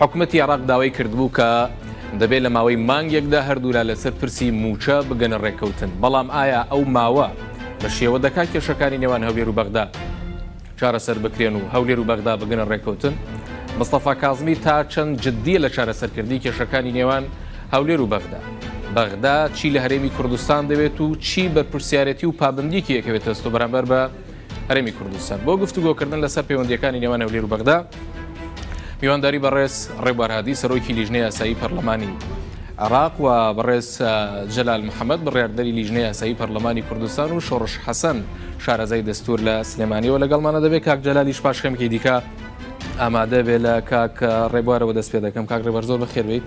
حکومەتی عێراق داوای کردبوو کە دەبێت لە ماوەی مانگێکدا هەردوولا لەسەر پرسی مووچە بگەنە ڕێککەوتن، بەڵام ئایا ئەو ماوە بە شێوە دەکات کێشەکانی نێوان هەولێر و بەغدا چارەسەر بکرێن و هەولێر و بەغدا بگەنە ڕێککەوتن؟ مستەفا کازمی تا چەند جددیە لە چارەسەرکردنی کێشەکانی نێوان هەولێر و بەغدا؟ بەغدا چی لە هەرێمی کوردستان دەوێت و چی بەرپرسیارەتی و پابەندیەکی دەکەوێتە ئەستۆ بەرامبەر بە هەرێمی کوردستان بۆ گفتوگۆکردن لەسەر پەیوەندیەکانی نێوان هەولێر و بەغدا میوانداری بەڕێز ڕێبارهادی سەرۆکی لیژنە یاسایی پەرلەمانی عراق و بەڕێز جەلال محەممەد بڕاردەری لیژنە یاسایی پەرلەمانی کوردستان و شۆڕش حەسەن شارەزای دەستور لە سلێمانیەوە لەگەڵمانە دەبێت کاک جەلالیش پاش خەمکی دیکە ئامادە بێ لە کاک ڕێبوارەوە دەست پێ دەکەم کاک ڕێبەر زۆر بەخێربیت.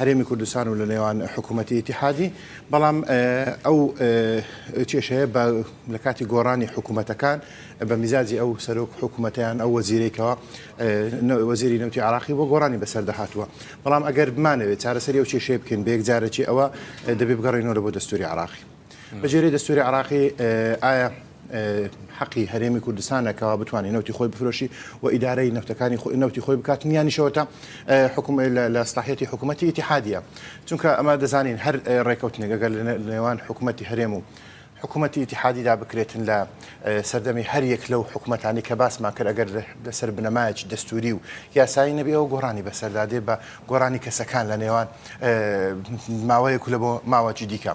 هەرێمی کوردستان و لە نێوان حکوومەتی ئیتیحادی، بەڵام ئەو کێشەیە بە لە کاتی گۆڕانی حکوومەتەکان بە میزاجی ئەو سەرۆک حکوومەتە یان ئەو وەزیرەی کەوە وەزیری نەوتی عراقی بۆ گۆڕانی بەسەردا هاتووە بەڵام ئەگەر بمانەوێت چارەسەری ئەو کێشەیە بکەین بە یەکجارەکی ئەوە دەبێ بگەڕێنەوە لە بۆ دەستووری عراقی. بە جێرەی دەستوری عراقی ئایا حەقی هەرێمی کوردستانە کەوا بتوانانی نوتی خۆی بفرۆشی و ئیدارەی نەوتەکانی خۆی نوتی خۆی بکات نیانیشەوەتا حکوم لە ساحەتی حکوومەتتی ئتیحادە چونکە ئەمە دەزانین هەر ڕێککەوتنێگەگە لە نێوان حکوومەتتی هەرێم و حکوومەتتی ئتیحادیدا بکرێتن لە سەردەمی هەر یەک لەو حکوومەتانی کە باسمان کرد ئەگەر لەسەر بنەمایکی دەستوری و یاسایی نەبی ئەو گۆڕانی بەسەردادێ بە گۆرانی کەسەکان لە نێوان ماوەیەک لە بۆ ماوەکی دیکە.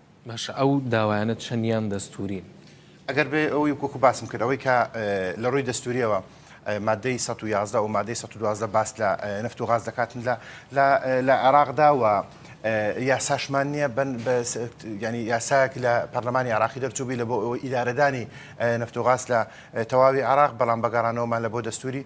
باشە ئەو داوایانە چەند یان دەستورین؟ ئەگەر بێ ئەوەی وەکو باسم کرد ئەوەی کە لە ڕووی دەستوریەوە مادەی سەد و یازدە و مادەی سەد و دوازدە باس لە نەفت و غاز دەکاتن لە لە عێراقدا و یاساشمان نییە بن ینی یاساک لە پەرلەمانی عراقی دەرچوبی لە بۆ ئەوە ئیدارەدانی نەفتۆغاس لە تەواوی عراق بەڵام بەگەڕانەوەمان لە بۆ دەستوری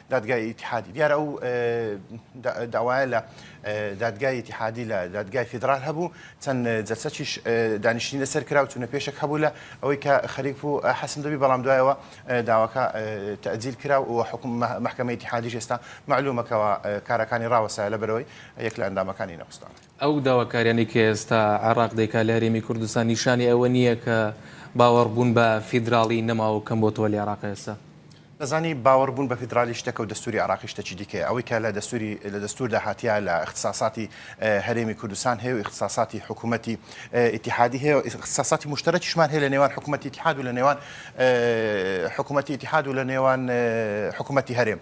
دادگای ئیتیحادی دیارە ئەو داوایە لە دادگای ئیتیحادی لە دادگای فیدرال هەبوو چەند جەسەچیش دانیشتنی لەسەر کرا و چونە پێشێک هەبوو لە ئەوەی کە خەریف و حەسم دەبی بەڵام دوایەوە داواکە تەجیل کرا و حکوم محکمە ئیتیحادی ئێستا معلومەکەەوە کارەکانی ڕاوەسای لە بەرەوەی یەک لە ئەندامەکانی نەخستانە ئەو داواکاریانەی کە ئێستا عێراق دەیکات لە هەرێمی کوردستان نیشانی ئەوە نییە کە باوەڕبوون بە فیدراڵی نەماوەو کەم بۆتەوە لە عێراق ئێستا؟ دەزانی باوەڕبوون بە فیدراڵی شتێکەو دەستوری عێراقی شتێکی دیکەیە، ئەوەی کە لە دەستوری لە دەستوردا هاتیە لە ئیختساساتی هەرێمی کوردستان هەیەو ئیختساساتی حکومەتی ئیتیحادی هەیەو ئیختساساتی موشتەرەکیشمان هەیە لە نێوان حکومەتی ئیتیحادو لە نێوان حکومەتی ئیتیحادو لە نێوان حکومەتی هەرێم.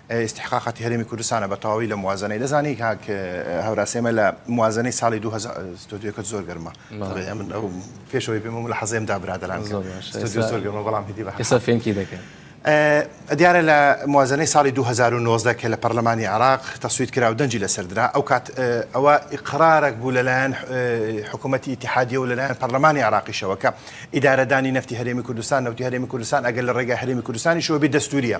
ئیستحقاقاتی هەرێمی کوردستانە بە تەواوی لە موازەنەی دەزانی کاک هەوراس ئێمە لە موازەنەی ساڵی دوو هەزار ستۆدیۆکەت زۆر گەرمە تەڵێ ئەمن ئەو پێشەوەی پێم و ملاحەزەیەم دا برادەران زۆر باش ستۆدیۆ زۆر گەرمە بەڵام هیدی بە ئێستا فێنکی دەکەن ئە دیارە لە موازەنەی ساڵی دوو هەزار و نۆزدە کە لە پەرلەمانی عێراق تەسویت کرا و دەنگی لەسەر درا ئەو کات ئەوە ئیقرارێک بوو لەلایەن حکوومەتی ئیتحادیە و لەلایەن پەرلەمانی عێراقیشەوە کە ئیدارەدانی نەفتی هەرێمی کوردستان نەوتی هەرێمی کوردستان ئەگەر لە ڕێگای هەرێمی کوردستانیشەوە بێ دەستوریە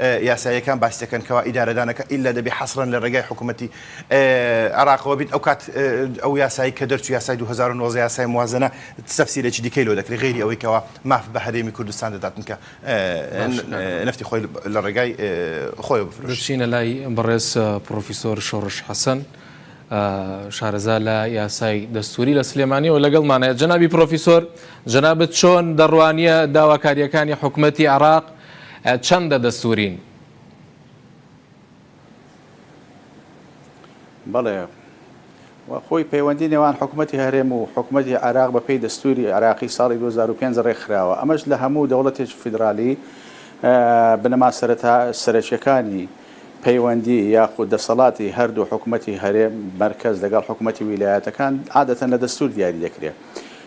یاساییەکان باس دەکەن کەوا ئیدارەدانەکە ئیللا دەبێ حەسرەن لە ڕێگای حکوومەتی عێراقەوە بین ئەو کات ئەو یاسایی کە دەرچوو یاسای دوو هەزار و نۆزدە یاسای موازەنە تەفسیرێکی دیکەی لۆ دەکرێ غەیری ئەوەی کەوا ماف بە هەرێمی کوردستان دەدات چونکە نەفتی خۆی لە ڕێگای خۆیەوە بفرۆشێ. بچینە لای بەڕێز پڕۆفیسۆر شۆڕش حەسەن شارەزا لە یاسای دەستووری لە سلێمانیەوە لەگەڵمانەیە جەنابی پڕۆفیسۆر جەنابەت چۆن دەڕوانیە داواکاریەکانی حکوومەتی عێراق چەندە دەستورین؟ بەڵێ و خۆی پەیوەندی نێوان حکومەتی هەرێم و حکومەتی عێراق بە پێی دەستوری عێراقی ساڵی دوو هەزار و پێنج ڕێکخراوە ئەمەش لە هەموو دەوڵەتێکی فیدرالی بنەما سەرەتا سەرەکیەکانی پەیوەندی یاخود دەسەڵاتی هەردوو حکومەتی هەرێم مەرکەز لەگەڵ حکومەتی ویلایەتەکان عادەتەن لە دەستور دیاری دەکرێت.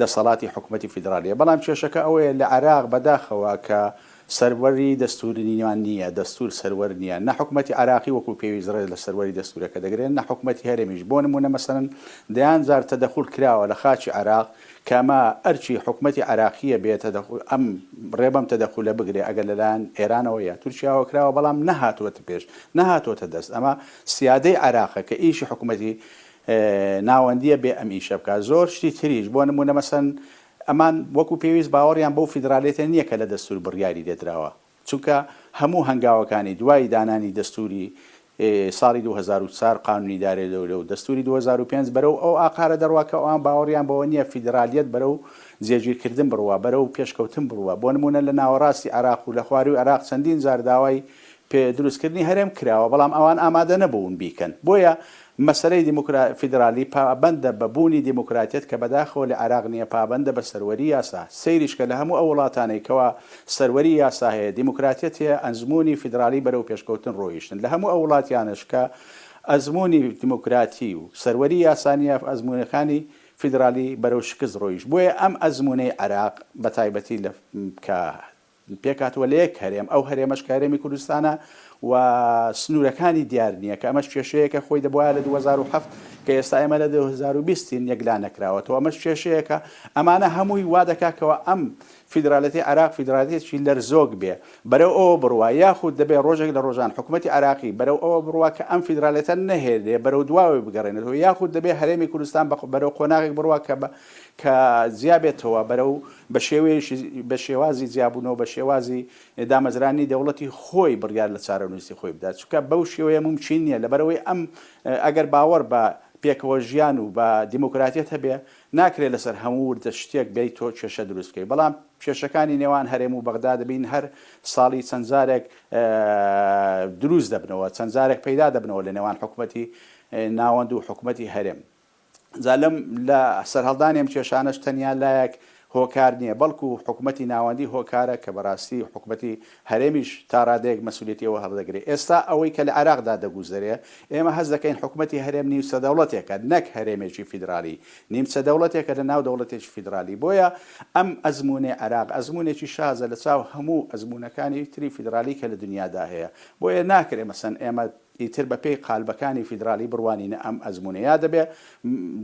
دەسەڵاتی حکومەتی فیدرالیە، بەڵام کێشەکە ئەوەیە لە عێراق بەداخەوە کە سەروەری دەستووریان نییە، دەستوور سەروەر نییە، نە حکومەتی عێراقی وەکو پێویست ڕێز لە سەروەری دەستوورەکە دەگرێت، نە حکومەتی هەرێمیش، بۆ نموونە مەسەلەن دەیان جار تەدەخول کراوە لە خاکی عێراق کە ئەمە ئەرکی حکومەتی عێراقییە بێت ئەم ڕێ بەم تەدەخولە بگرێت ئەگەر لەلایەن ئێرانەوە یا تورکیاوە کراوە بەڵام نەهاتووەتە پێش، نەهاتووەتە دەست، ئەمە سیادەی عێراقە کە ئیشی حکومەتی ناوەندیە بێ ئەم ئیشە بکات زۆر شتی تریش بۆ نمونە مەسەن ئەمان وەکو پێویست باوەڕیان بەو فیدرالیەتە نیە کە لە دەستور بڕیاری لێدراوە چونکە هەموو هەنگاوەکانی دوای دانانی دەستوری ساڵی دوو هەزار و چوار قانونی دارێ دەولە و دەستوری دوو هەزار و پێنج بەرەو ئەو ئاقارە دەڕوا کە ئەوان باوەڕیان بەوە نیە فیدرالیەت بەرەو جێگیرکردن بڕوا بەرەو پێشکەوتن بڕوا بۆ نمونە لە ناوەڕاستی عێراق و لە خواروی عێراق چەندین جار داوای پێ دروستکردنی هەرێم کراوە بەڵام ئەوان ئامادە نەبوون بیکەن بۆیە مەسەلەی دیموکرا فیدرالی پابەندە بە بوونی دیموکراتیەت کە بەداخەوە لە عێراق نیە پابەندە بە سەروەری یاسا سەیریش کە لە هەموو ئەو وڵاتانەی کەوا سەروەری یاسا هەیە دیموکراتیەت هەیە ئەزموونی فیدرالی بەرەو پێشکەوتن ڕۆیشتن لە هەموو ئەو وڵاتیانەش کە ئەزموونی دیموکراتی و سەروەری یاسا نیە ئەزموونەکانی فیدرالی بەرەو شکست ڕۆیشت بۆیە ئەم ئەزموونەی عێراق بە تایبەتی لە کە پێکهاتووە لە یەک هەرێم، ئەو هەرێمەش کە هەرێمی کوردستانە و سنوورەکانی دیار نییە، کە ئەمەش کێشەیەکە خۆی دەبوایە لە دوو هەزار و حەفت کە ئێستا ئێمە لە دوو هەزار و بیست ین یەکلا نەکراوەتەوە، ئەمەش کێشەیەکە، ئەمانە هەمووی وا دەکات کەوا ئەم فیدراڵێتەی عێراق فیدراڵێتێکی لەرزۆک بێ، بەرەو ئەوە بڕوا یاخود دەبێ ڕۆژێک لە ڕۆژان حکوومەتی عێراقی بەرەو ئەوە بڕوا کە ئەم فیدراڵێتە نەهێلێ بەرەو دواوەی بگەڕێنێتەوە یاخود دەبێ هەرێمی کوردستان بەرەو قۆناغێک بڕوا کە بە کە جیا بێتەوە بەرەو بە شێوەیەکی بە شێوازی جیابوونەوە بە شێوازی دامەزرانی دەوڵەتی خۆی بڕیار لە چارەنووسی خۆی بدات چونکە بەو شێوەیە مومکین نییە لەبەرەوەی ئەم ئەگەر باوەڕ بە پێکەوە ژیان و بە دیموکراتیەت هەبێ ناکرێ لەسەر هەموو وردە شتێک بێی تۆ کێشە دروست بکەی بەڵام کێشەکانی نێوان هەرێم و بەغدا دەبین هەر ساڵی چەند جارێک دروست دەبنەوە چەند جارێک پەیدا دەبنەوە لە نێوان حکومەتی ناوەند و حکومەتی هەرێم جا لەم لە سەرهەڵدانی ئەم کێشانەش تەنیا لایەک هۆکار نییە، بەڵکو حکومەتی ناوەندی هۆکارە کە بەڕاستی حکومەتی هەرێمیش تا ڕادەیەک مەسولیەتی ئەوە هەڵدەگرێ. ئێستا ئەوەی کە لە عێراقدا دەگوزەرێ، ئێمە هەست دەکەین حکومەتی هەرێم نیمچە دەوڵەتێکە نەک هەرێمێکی فیدرالی، نیمچە دەوڵەتێکە لە ناو دەوڵەتێکی فیدرالی. بۆیە ئەم ئەزمونەی عێراق ئەزمونێکی شازە لە چاو هەموو ئەزمونەکانی تری فیدرالی کە لە دنیادا هەیە. بۆیە ناکرێ مەسەن ئێمە ئیتر بە پێی قالبەکانی فیدرالی بڕوانینە ئەم ئەزموونەیا دەبێ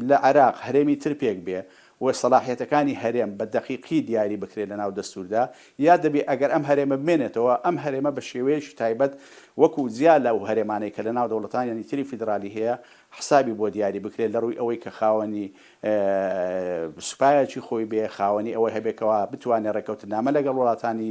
لە عێراق هەرێمی تر پێک بێ و سەلاحیەتەکانی هەرێم بە دەقیقی دیاری بکرێ لە ناو دەستووردا یا دەبێ ئەگەر ئەم هەرێمە بمێنێتەوە ئەم هەرێمە بە شێوەیەکی تایبەت وەکوو جیا لە و هەرێمانەی کە لە ناو دەوڵەتانیانی تری فیدرالی هەیە حسابی بۆ دیاری بکرێ لە ڕووی ئەوەی کە خاوەنی سوپایەکی خۆی بێ خاوەنی ئەوەی هەبێ کەوا بتوانێ ڕێکەوتنامە لەگەڵ وڵاتانی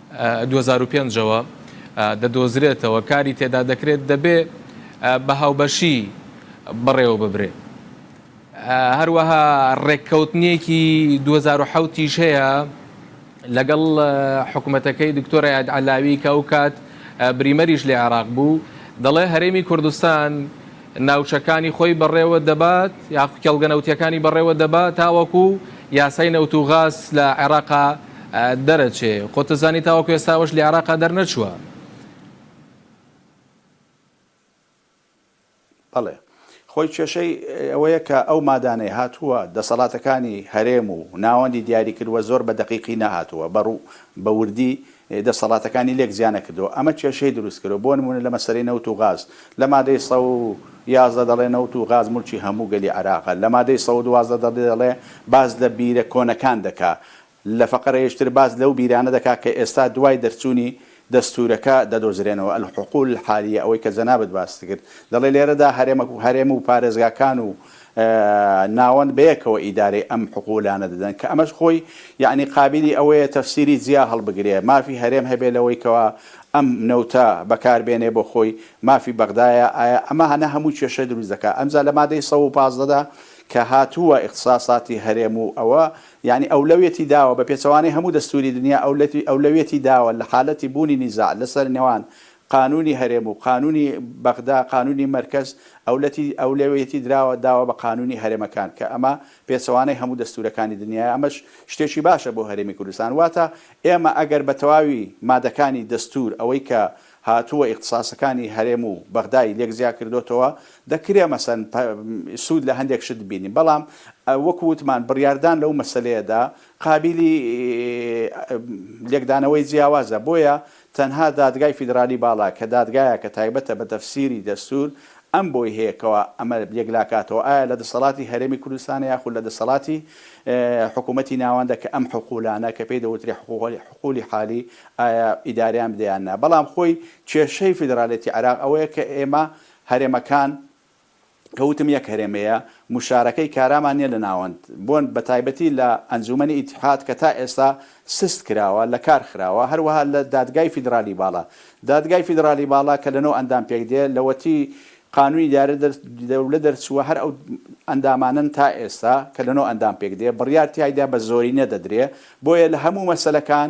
دوو هەزار و پێنج ەوە دەدۆزرێتەوە کاری تێدا دەکرێت دەبێ بە هاوبەشی بەڕێوەببرێ هەروەها ڕێککەوتنێکی دوو هەزار و حەوت یش هەیە لەگەڵ حکوومەتەکەی دکتۆرە یاد عەلاوی کە ئەو کات بریمەریش لە عێراق بوو دەڵێ هەرێمی کوردستان ناوچەکانی خۆی بەڕێوە دەبات یاخو کێڵگە نەوتیەکانی بەڕێوە دەبات تاوەکو یاسای نەوت و غاز لە عێراقا دەرەچێ خۆتەزانی تاوەکو ئێستاوەش لە عێراقا دەرنەچووە. بەڵێ خۆی کێشەی ئەوەیە کە ئەو مادانەی هاتووە دەسەڵاتەکانی هەرێم و ناوەندی دیاری کردووە زۆر بە دەقیقی نەهاتووە بە ڕوو بە وردی دەسەڵاتەکانی لێک جیا نەکردووە، ئەمە کێشەی دروست کردووە، بۆ نموونە لە مەسەلەی نەوت و غاز، لە مادەی سەد و یازدە دەڵێ نەوت و غاز موڵکی هەموو گەلی عێراقە، لە مادەی سەد و دوازدە دەڵێ باس لە بیرە کۆنەکان دەکا، لە فەقرەیەکی تر باس لەو بیرانە دەکا کە ئێستا دوای دەرچوونی دەستوورەکە دەدۆزرێنەوە، الحقول الحالیە، ئەوەی کە جەنابت باست کرد، دەڵێ لێرەدا هەرێم و پارێزگاکان و ناوەند بەیەکەوە ئیدارەی ئەم حقوولانە دەدەن کە ئەمەش خۆی یەعنی قابیلی ئەوەیە تەفسیری جیا هەڵبگرێ مافی هەرێم هەبێ لەوەی کەوا ئەم نەوتە بەکار بێنێ بۆ خۆی مافی بەغدایە ئایا ئەمە هەنە هەموو کێشە دروست دەکا ئەمجا لە مادەی سەد و پازدە دا کە هاتووە ئیختساساتی هەرێم و ئەوە یەعنی ئەولەویەتی داوە بە پێچەوانەی هەموو دەستووری دنیا ئەولەویەتی داوە لە حالەتی بوونی نیزاع لە سەر نێوان قانونی هەرێم و قانونی بەغدا قانونی مەرکەز ئەولەتی ئەولەویەتی دراوە داوە بە قانونی هەرێمەکان کە ئەمە پێچەوانەی هەموو دەستورەکانی دنیایە ئەمەش شتێکی باشە بۆ هەرێمی کوردستان واتە ئێمە ئەگەر بە تەواوی مادەکانی دەستور ئەوەی کە هاتووە ئیختساسەکانی هەرێم و بەغدای لێک جیا کردۆتەوە دەکرێ مەسەن سود لە هەندێک شت بینین بەڵام وەکو وتمان بڕیاردان لەو مەسەلەیەدا قابیلی لێکدانەوەی جیاوازە بۆیە تەنها دادگای فیدرالی باڵا کە دادگایەکە تایبەتە بە تەفسیری دەستور، ئەم بۆی هەیە کەوا ئەمە یەکلاکاتەوە ئایا لە دەسەڵاتی هەرێمی کوردستانە یاخود لە دەسەڵاتی حکوومەتی ناوەندە کە ئەم حقوولانە کە پێی دەوترێ حقوولی حالی ئایا ئیداریان بدە یان نا، بەڵام خۆی کێشەی فیدرالێتی عێراق ئەوەیە کە ئێمە هەرێمەکان کە وتم یەک هەرێمەیە موشارەکەی کارامان نیە لە ناوەند بۆن بە تایبەتی لە ئەنجومەنی ئیتحاد کە تا ئێستا سست کراوە لە کار خراوە هەروەها لە دادگای فیدرالی باڵا دادگای فیدرالی باڵا کە لە نۆ ئەندام پێک دێ لەوەتی قانونی دارە دەولە دەرچووە هەر ئەو ئەندامانەن تا ئێستا کە لە نۆ ئەندام پێک دێ بڕیار تیایدا بە زۆرینە دەدرێ بۆیە لە هەموو مەسەلەکان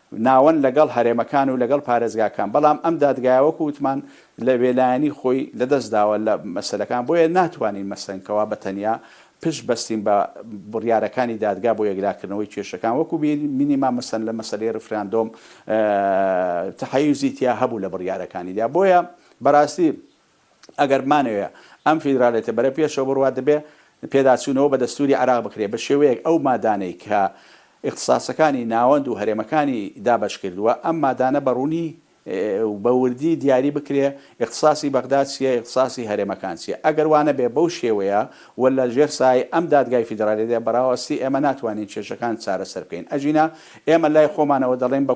ناوەند لەگەڵ هەرێمەکان و لەگەڵ پارێزگاکان، بەڵام ئەم دادگایە وەکو وتمان لە بێلایەنی خۆی لەدەست داوە لە مەسەلەکان، بۆیە ناتوانین مەسەن کەوا بە تەنیا پشت بەستین بە بڕیارەکانی دادگا بۆ یەکلاکردنەوەی کێشەکان، وەکو بینیمان مەسەن لە مەسەلەی ڕیفراندۆم تەحەیوزی تیا هەبوو لە بڕیارەکانیدا، بۆیە بەڕاستی. ئەگەر بمانەوێ ئەم فیدرالیتە بەرەو پێشەوە بڕوات دەبێ پێداچوونەوە بە دەستووری عێراق بکرێ بە شێوەیەک ئەو مادانەی کە ئیختساسەکانی ناوەند و هەرێمەکانی دابەش کردووە ئەم مادانە بە ڕوونی و بە وردی دیاری بکرێ ئیختساسی بەغدا چییە ئیختساسی هەرێمەکان چییە ئەگەر وا نەبێ بەو شێوەیە و لە ژێر سایەی ئەم دادگای فیدرالیدا بەڕاوەستی ئێمە ناتوانین کێشەکان چارەسەر بکەین ئەگینا ئێمە لای خۆمانەوە دەڵێین بە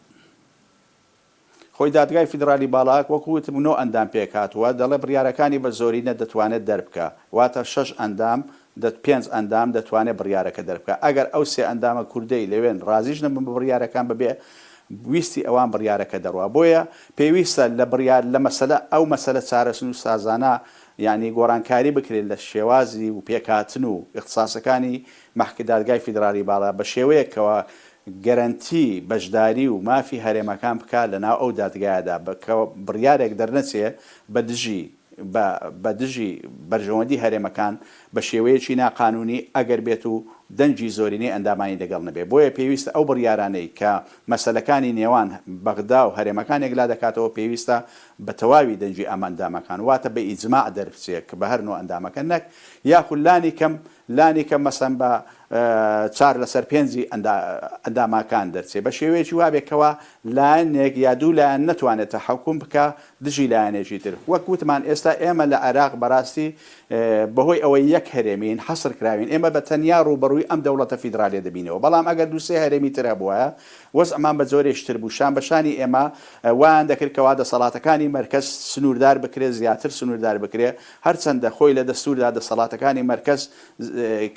خۆی دادگای فیدرالی باڵا وەکو وتم نۆ ئەندام پێکهاتووە، دەڵێت بڕیارەکانی بە زۆرینە دەتوانێت دەربکا، واتە شەش ئەندام، پێنج ئەندام دەتوانێت بڕیارەکە دەربکا، ئەگەر ئەو سێ ئەندامە کوردەی لەوێن رازیش نەبن بە بڕیارەکان بەبێ ویستی ئەوان بڕیارەکە دەڕوا، بۆیە پێویستە لە بڕیار لە مەسەلە ئەو مەسەلە چارەسنووسازانە یانی گۆڕانکاری بکرێت لە شێوازی و پێکهاتن و ئیختساسەکانی مەحک دادگای فیدرالی باڵا بە شێوەیەک کەوا گەرەنتی بەشداری و مافی هەرێمەکان بکا لە ناو ئەو دادگایەدا کە بڕیارێک دەرنەچێ بە دژی بە بە دژی بەرژەوەندی هەرێمەکان بە شێوەیەکی نا قانونی ئەگەر بێت و دەنگی زۆرینەی ئەندامانی دەگەڵ نەبێ بۆیە پێویستە ئەو بڕیارانەی کە مەسەلەکانی نێوان بەغدا و هەرێمەکان یەکلا دەکاتەوە پێویستە بە تەواوی دەنگی ئەم ئەندامەکان واتە بە ئیجماع دەربچێ کە بە هەر نۆ ئەندامەکە نەک یاخود لانی کەم لانی کەم مەسەن بە چار لەسەر پێنجی ئەنداماکان دەرچێ بە شێوەیەکی وابێ کەوا لایەنێک یا دوو لایەن نەتوانێ تەحەکوم بکا دژی لایەنێکی تر وەک وتمان ئێستا ئێمە لە عێراق بەراستی بە هۆی ئەوەی یەک هەرێمین حەسر کراوین ئێمە بە تەنیا ڕووبەڕووی ئەم دەوڵەتە فیدرالیە دەبینەوە بەڵام ئەگەر دوو سێ هەرێمی تر هەبوایە وەزعمان بە جۆرێکی تر بوو شان بە شانی ئێمە وایان دەکرد کەوا دەسەڵاتەکانی مەرکەز سنووردار بکرێ زیاتر سنووردار بکرێ هەرچەندە خۆی لە دەستوردا دەسەڵاتەکانی مەرکەز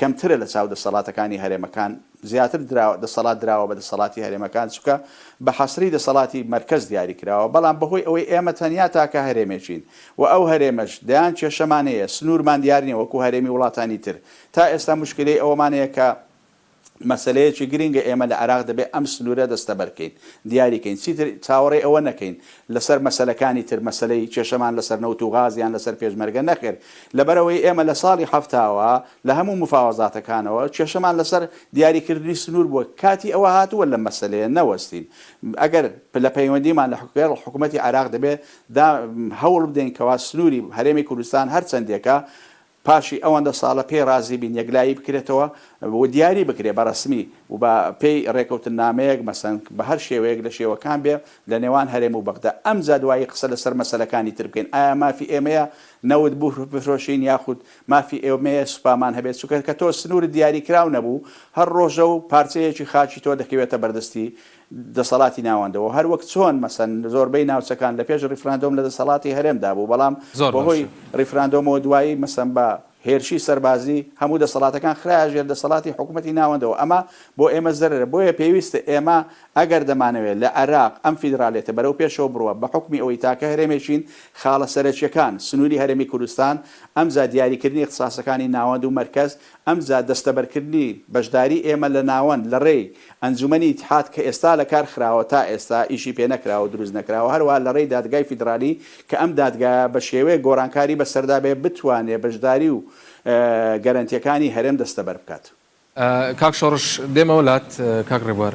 کەمترە لە چاو دەسەڵاتەکانی هەرێمەکان زیاتر دەسەڵات دراوە بە دەسەڵاتی هەرێمەکان چونکە بە حەسری دەسەڵاتی مەرکەز دیاری کراوە بەڵام بەهۆی ئەوەی ئێمە تەنیا تاکە هەرێمێکین و ئەو هەرێمەش دەیان کێشەمان هەیە سنورمان دیار نیە وەکو هەرێمی وڵاتانی تر تا ئێستا موشکیلەی ئەوەمان هەیە کە مەسەلەیەکی گرینگە ئێمە لە عێراق دەبێت ئەم سنوورە دەستەبەر بکەین، دیاری کەین، چیتر چاوەڕێی ئەوە نەکەین لەسەر مەسەلەکانی تر مەسەلەی کێشەمان لەسەر نەوت و غاز یان لەسەر پێشمەرگە نەخێر، لەبەرئەوەی ئێمە لە ساڵی حەفتاوە لە هەموو مفاوەزاتەکانەوە کێشەمان لەسەر دیاریکردنی سنوور بووە، کاتی ئەوە هاتووە لەم مەسەلەیە نەوەستین، ئەگەر پلە پەیوەندیمان لەگەڵ حکومەتی عێراق دەبێت دا هەوڵبدەین کەوا سنووری هەرێمی کوردستان هەرچەندێکە، پاشی ئەوەندە ساڵە پێی ڕازی بین یەکلایی بکرێتەوە و دیاری بکرێت بە ڕەسمی و بە پێی ڕێکەوتننامەیەک مەسەن بە هەر شێوەیەک لە شێوەکان بێ لە نێوان هەرێم و بەغدا ئەمجا دوایی قسە لە سەر مەسەلەکانی تر بکەین ئایا مافی ئێمەیە نەوت بفرۆشین یاخود مافی ئێمەیە سوپامان هەبێت چونکە کە تۆ سنوورت دیاری کراو نەبوو هەر ڕۆژە و پارچەیەکی خاکی تۆ دەکەوێتە بەردەستی دەسەڵاتی ناوەندەوە هەر وەک چۆن مەسەن زۆربەی ناوچەکان لە پێش ڕیفراندۆم لە دەسەڵاتی هەرێمدا بوو بەڵام بە هۆی ڕیفراندۆمەوە دوایی مەسەن بە هێرشی سەربازی هەموو دەسەڵاتەکان خرایە ژێر دەسەڵاتی حکومەتی ناوەندەوە ئەمە بۆ ئێمە زەرەرە بۆیە پێویستە ئێمە ئەگەر دەمانەوێت لە عێراق ئەم فیدرالیەتە بەرەو پێشەوە بڕوا بە حوکمی ئەوەی تاکە هەرێمێکین خاڵە سەرەکیەکان سنوری هەرێمی کوردستان ئەمجا دیاریکردنی اختصاسەکانی ناوەند و مەرکەز ئەمجا دەستەبەرکردنی بەشداری ئێمە لە ناوەند لە ڕێی ئەنجومەنی ئیتحاد کە ئێستا لە کار خراوە تا ئێستا ئیشی پێ نەکراوە و دروست نەکراوە هەروەها لە ڕێی دادگای فیدرالی کە ئەم دادگایە بە شێوەیەک گۆڕانکاری بە سەردا بێت بتوانێت بەشداری و گەرەنتیەکانی هەرێم دەستەبەر بکات. کاک شۆڕش دێمەوە لات کاک ڕێبوار.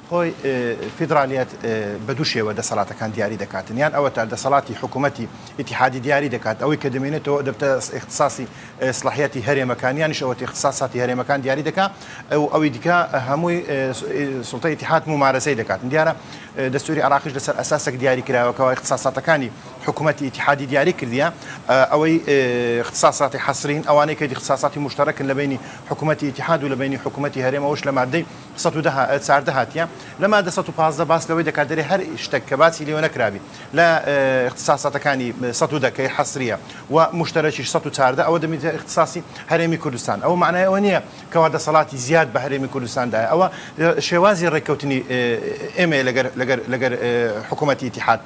خۆی فیدرالیەت بە دوو شێوە دەسەڵاتەکان دیاری دەکاتن یان ئەوەتا دەسەڵاتی حکوومەتی ئیتیحادی دیاری دەکات ئەوەی کە دەمێنێتەوە دەبتە ئیختصاصی سڵاحیەتی هەرێمەکان یانیش ئەوەتی اختصاصاتی هەرێمەکان دیاری دەکا و ئەوی دیکە هەمووی سوڵتەی ئیتیحاد مومارەسەی دەکاتن دیارە دەستووری عراقیش لەسەر ئەساسێک دیاری کراوەکەوە اختصاصاتەکانی حکوومەتی ئیتیحادی دیاری کردیە ئەوەی اختصاصاتی حەسرین ئەوانەی کە اختصاصاتی مشترکن لە بینی حکوومەتی ئیتیحاد و لە بینی حکوومەتی هەرێمەوەش لە مادەی سەد و دە چاردە هاتیە لە مادە سەد و پازدە باس لەوەی دەکات دەرێ هەر شتەک کە باسی لێوە نەکرابی لە اختصاصاتەکانی سەد و دەکەی حەسریە و مشتەرەکیش سەد و چاردە ئەوە دەمیتە اختصاصی هەرێمی کوردستان ئەوە معنای ئەوە نییە کەوا دەسەڵاتی زیاد بە هەرێمی کوردستاندایە ئەوە شێوازی ڕێککەوتنی ئێمەیە لەگەر لەگەر لەگەر حکوومەتی ئیتیحاد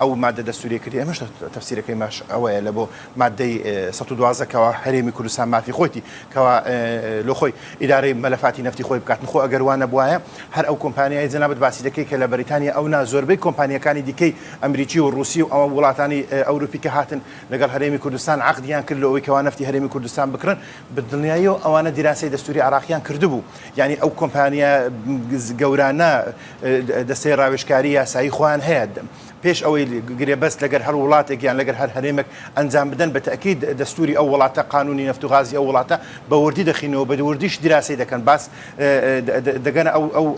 ئەو مادە دەستوریە کردی ئەمەش تەفسیرەکەی ماش ئەوەیە لە بۆ مادەی 1970 کەوا هەرێمی کوردستان مافی خۆیتی کەوا لۆ خۆی ئیدارەی مەلەفاتی نفتی خۆی بکات نخۆ ئەگەر وانە بواە هەر ئەو کۆمپانیای جەنابەت باسی دەکەی کە لە بەریتانیا ئەو نا زۆربەی کۆمپانیەکانی دیکەی ئەمریکی و رووسی و ئەوە وڵاتانی ئەوروپی کە هاتن لەگەڵ هەرێمی کوردستان عقدیان کرد لەوەی کەوا نفتی هەرێمی کوردستان بکڕن بە دڵنیاییەوە ئەوانە دیراسەی دەستووری عێراقیان کردبوو، یانی ئەو کۆمپانیا گەورانە دەستەی ڕاوێژکاری یاسایی خۆیان هەیە، پێش ئەوەی گرێبەست لەگەر هەر وڵاتێک یان لەگەر هەر هەرێمێک ئەنجام بدەن بە تەئکید دەستووری ئەو وڵاتە قانوونی نەفت و غازی ئەو وڵاتە بە وردی دەخیننەوە بە وردیش دیراسەی دەکەن باس دەگەنە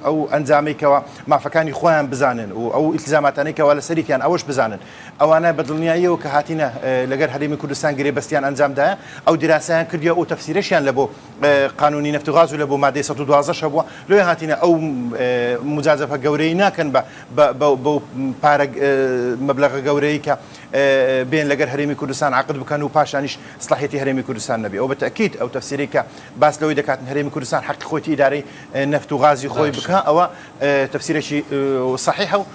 ئەو ئەنجامەی کەوا مافەکانی خۆیان بزانن و ئەو ئیلتزاماتانەی کەوا لەسەریتیان ئەوەش بزانن ئەوانە بە دڵنیاییەوە کە هاتینە لەگەر هەرێمی کوردستان گرێبەستیان ئەنجام دایە ئەو دیراسەیان کردیە ئەو تەفسیرەشیان لە بۆ قانونی نەفت و غاز و لە بۆ مادەی سەد و دوازدە شە بووە لۆیە هاتینە ئەو مجازەفە گەورەی ناکەن بە بەو پارە مەبلەغە گەورەی کە بێن لەگەر هەرێمی کوردستان عقد بکەن و پاشانیش سڵحێتی هەرێمی کوردستان نەبێ ئەو بە تەکیت ئەو تەفسیری کە باس لەوەی دەکاتن هەرێمی کوردستان حەقی خۆی ئیدارەی نەفت و غازی خۆی بکە ئەوە تەفسیرێکی صحیحە و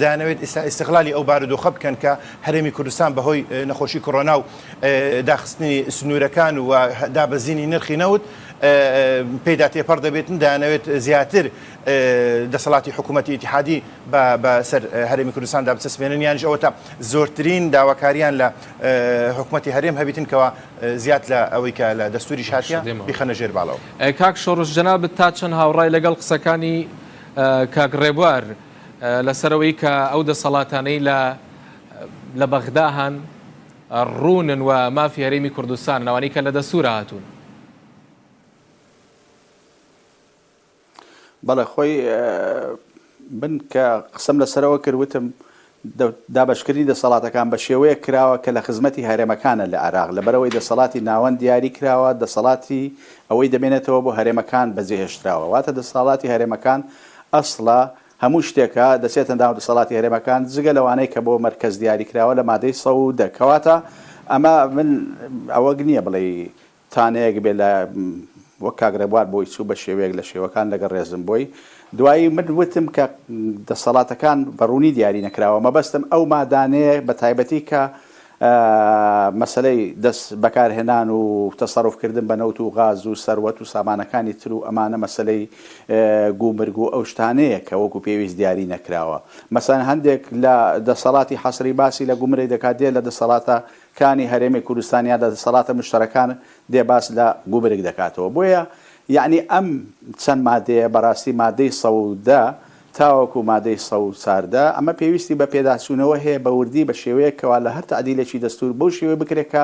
دەیانەوێت ئیستا ئیستغلالی ئەو بارودۆخە بکەن کە هەرێمی کوردستان بە هۆی نەخۆشی کۆرۆنا و داخستنی سنوورەکان و دابەزینی نرخی نەوت پێدا تێپەڕ دەبێتن دەیانەوێت زیاتر دەسەڵاتی حکوومەتی ئتیحادی بەسەر هەرێمی کوردستاندا بچەسپێنن یانش ئەوە تا زۆرترین داواکاریان لە حکوومەتی هەرێم هەبیتن کەەوە زیاد لە ئەوەی کە لە دەستوری شاتە بخەنە ژێر باڵەوە کاک شۆڕژ جەنابەت تا چەند هاوڕای لەگەڵ قسەکانی کاک ڕێبوار. لەسەرەوەی کە ئەو دەسەڵاتانەی لە لە بەغدا هەن ڕوونن و مافی هەرێمی کوردستان ناوانەی کە لە دەسوورە هاتوون بەڵێ خۆی بن کە قسم لەسەرەوە کردوتم دابشکردنی دەسەڵاتەکان بە شێوەیە کراوە کە لە خزمەتی هەرێمەکانە لە عراق لەبەرەوەی دەسەڵاتی ناوەند دیاری کراوە دەسەڵاتی ئەوەی دەمێنێتەوە بۆ هەرێمەکان بەجێهێشتراوە واتە دەسەڵاتی هەرێمەکان ئەسڵە هەموو شتێکە دەچێتە ناو دەسەڵاتی هەرێمەکان جگە لەوانەی کە بۆ مەرکەز دیاری کراوە لە مادەی سەد و دە کەواتە ئەمە من ئەوەگ نیە بڵێی تانەیەک بێ لە وەک کاک رێبوار بۆی چوو بە شێوەیەک لە شێوەکان لەگەڵ رێزم بۆی دوایی من وتم کە دەسەڵاتەکان بە روونی دیاری نەکراوە مەبەستم ئەو مادانەیە بە تایبەتی کە مەسەلەی دەست بەکارهێنان و تەسەروف کردن بە نەوت و غاز و سەروەت و سامانەکانی تر و ئەمانە مەسەلەی گومرگ و ئەو شتانەیە کە وەکو پێویست دیاری نەکراوە مەسەلەن هەندێک لە دەسەڵاتی حەسری باسی لە گومرگ دەکات دێ لە دەسەڵاتە کانی هەرێمی کوردستان یا لە دەسەڵاتە مشتەرەکان دێ باس لە گومرگ دەکاتەوە بۆیە یەعنی ئەم چەند مادەیە بەراستی مادەی سەودە تاوەکو مادەی سەد و چوار دە، ئەمە پێویستی بە پێداچوونەوە هەیە بە وردی بە شێوەیەک کەوا لە هەر تەعدیلێکی دەستوور بەو شێوەیە بکرێت کە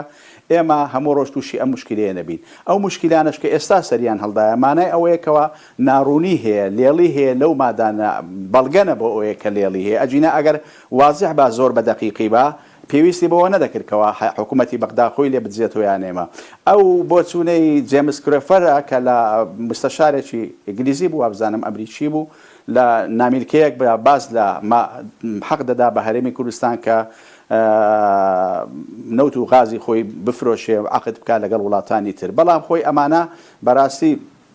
ئێمە هەموو ڕۆژ تووشی ئەم موشکیلەیە نەبین. ئەو موشکیلانەش کە ئێستا سەریان هەڵدایە مانای ئەوەیە کەوا ناڕوونی هەیە، لێڵی هەیە لەو مادانە، بەڵگەنە بۆ ئەوەیە کە لێڵی هەیە، ئەگینا ئەگەر وازح با، زۆر بە دەقیقی با، پێویستی بەوە نەدەکرد کەوا حکوومەتی بەغدا خۆی لێ بدزێتەوە یان ئێمە. ئەو بۆچوونەی جێمس کرێفەرە کە لە موستەشارێکی ئینگلیزی بوو وابزانم ئەمریکی بوو لە نامیلکەیەک باس لە حەق دەدا بە هەرێمی کوردستان کە نەوت و غازی خۆی بفرۆشێ و عەقد بکات لەگەڵ وڵاتانی تر بەڵام خۆی ئەمانە بەراستی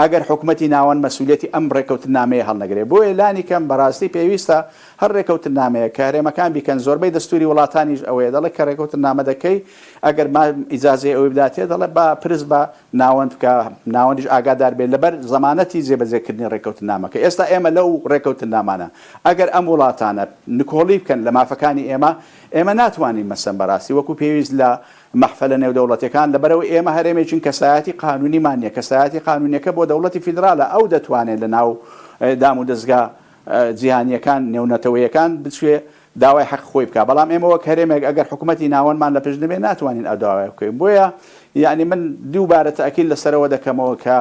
ئەگەر حکومەتی ناوەند مەسئولیەتی ئەم ڕێکەوتننامەیە هەڵنەگرێت. بۆیە لانی کەم بەڕاستی پێویستە هەر ڕێکەوتننامەیەک کە هەرێمەکان بیکەن، زۆربەی دەستوری وڵاتانیش ئەوەیە دەڵێت کە ڕێکەوتننامە دەکەی ئەگەر ما ئیجازەی ئەوەی بداتێ دەڵێت با پرس بە ناوەند بکە ناوەندیش ئاگادار بێت لەبەر زەمانەتی جێبەجێکردنی ڕێکەوتننامەکە ئێستا ئێمە لەو ڕێکەوتننامانە ئەگەر ئەم وڵاتانە نکۆڵی بکەن لە مافەکانی ئێمە ئێمە ناتوانین مەسەن بەڕاستی وەکو پێویست لە مەحفەلە نێودەوڵەتیەکان لەبەرئەوەی ئێمە هەرێمێکین کەسایەتی قانونیمان نیە، کەسایەتی قانونیەکە بۆ دەوڵەتی فیدرالە ئەو دەتوانێت لەناو دامودەزگا جیهانیەکان نێونەتەوەیەکان بچێ داوای حەق خۆی بکا بەڵام ئێمە وەک هەرێمێک ئەگەر حکومەتی ناوەندمان لەپشت نەبێت ناتوانین ئەو داوایە بکەین بۆیە یەعنی من دووبارە تەئکید لەسەرەوە دەکەمەوە کە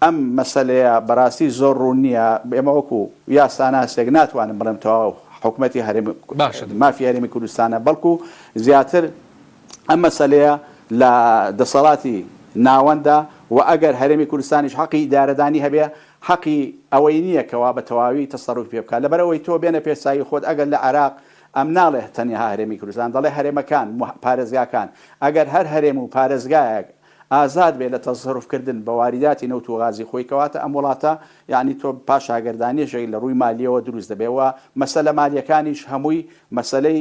ئەم مەسەلەیە بەراستی زۆر روون نیە ئێمە وەکو یاساناسێک ناتوانم بڵێم تەواو حکومەتی هەرێم مافی هەرێمی کوردستانە بەڵکو زیاتر ئەم مەسەلەیە لە دەسەڵاتی ناوەندە و ئەگەر هەرێمی کوردستانیش حەقی ئیدارەدانی هەبێ حەقی ئەوەی نییە کەوا بە تەواوی تەسەروفی پێ بکا لەبەر ئەوەی تۆ بێنە پێش چاوی خۆت ئەگەر لە عێراق ئەم ناڵێ تەنها هەرێمی کوردستان دەڵێ هەرێمەکان و پارێزگاکان ئەگەر هەر هەرێم و پارێزگایەک ئازاد بێ لە تەسەروف کردن بە واریداتی نەوت و غازی خۆی کەواتە ئەم وڵاتە یانی تۆ پاشاگەردانیەشێک لە ڕووی مالیەوە دروست دەبێ و مەسەلە مالیەکانیش هەمووی مەسەلەی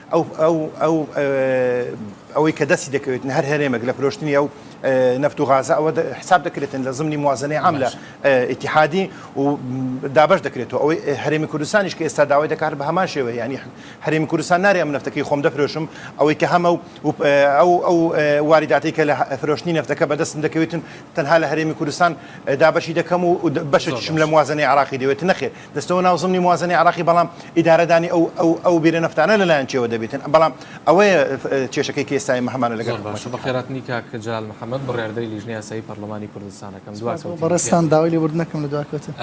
ئەو ئەوەی کە دەستی دەکەوێتن هەر هەرێمەک لە فرۆشتنی ئەو نەفت و غازە ئەوە حساب دەکرێتن لە زمنی موازنەی عام لە ئیتحادی و دابەش دەکرێتەوە ئەوەی هەرێمی کوردستانیش کە ئێستا داوای دەکات بە هەمان شێوە یانی هەرێمی کوردستان نارێ ئەم نەفتەکەی خۆم دەفرۆشم ئەوەی کە هەمە و ئەو ئەو واریداتی کە لە فرۆشتنی نەفتەکە بەدەستم دەکەوێتن تەنها لە هەرێمی کوردستان دابەشی دەکەم و بەشێکیشم لە موازنەی عراقی دەوێت نەخێر دەچتەوە ناو زمنی موازەنەی عێراقی بەڵام ئیدارەدانی ئەو ئەو ئەو بیرە نەفتانە لەلایەن کێوە دەبێتن بەڵام ئەوەیە کێشەکەی کە ئێستای هەمانە لەگەڵ زۆر باشە بەخێراتنی کاک جەلال محەمەد بڕیاردەری لیژنەی یاسایی پەرلەمانی کوردستان ئەکەم دوا سپاس بۆ بەڕێزتان داوای لێبوردن ئەکەم لە دوا کەوتن.